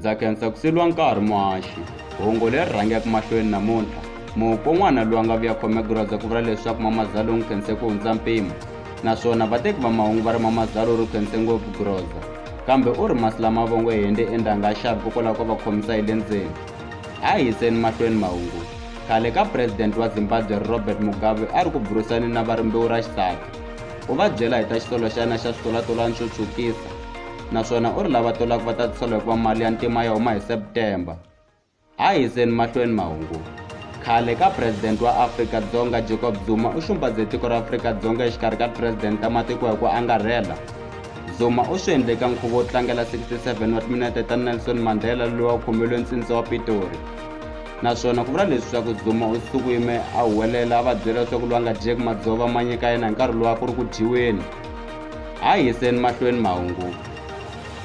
ndza khensa ku seliwa nkarhi muhaxi hungu leri rhangaka mahlweni namuntlha muko n'wana loyi a nga vuya khome gurhaza ku vula leswaku mamazalo n'wi khense ku hundza mpimo naswona vateki va mahungu va ri mamazalo ri khense ngopfu gurhoza kambe u ri masi lama vongo hende endanga a xavi kokwalaho ka va khomisa hi le ndzeni a hi yiseni mahlweni mahungu khale ka president wa zimbabwe robert mugabe a ri ku burisani na va rimbewu ra xisati u va byela hi ta xisolo xa yena xa switolatolani xo tshukisa naswona u ri lava tolaka va ta tisola hikuva mali ya ntima ya huma hi september A hi yiseni mahlweni mahungu. Khale ka President wa Afrika-Dzonga Jacob Zuma u xumbaze tiko ra Afrika-Dzonga exikarhi ka President ta matiko hi ku angarhela. Zuma u swi endle eka nkhuvo wo tlangela 67 wa timinete ta Nelson Mandela loyi wa khomelwe ntsindza wa Pitori. Naswona ku vula leswaku Zuma u sukuime a huwelela a va byela leswaku loyi a nga dyeki madzova ma nyika yena hi nkarhi lowa ku ri ku dyiweni. A hi yiseni mahlweni mahungu.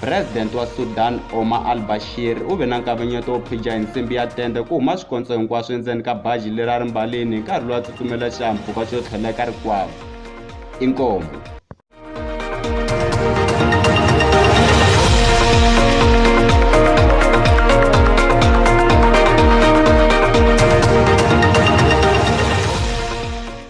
President wa Sudan Omar al-Bashir u ve na nkavanyeto wo phija hi nsimbi ya tende ku huma swikontso hinkwaswo endzeni ka baji leri a ri mbalini hi nkarhi lowu a tsutsumela xihahampfhuka xo tlhela eka rikwavo. Inkomu.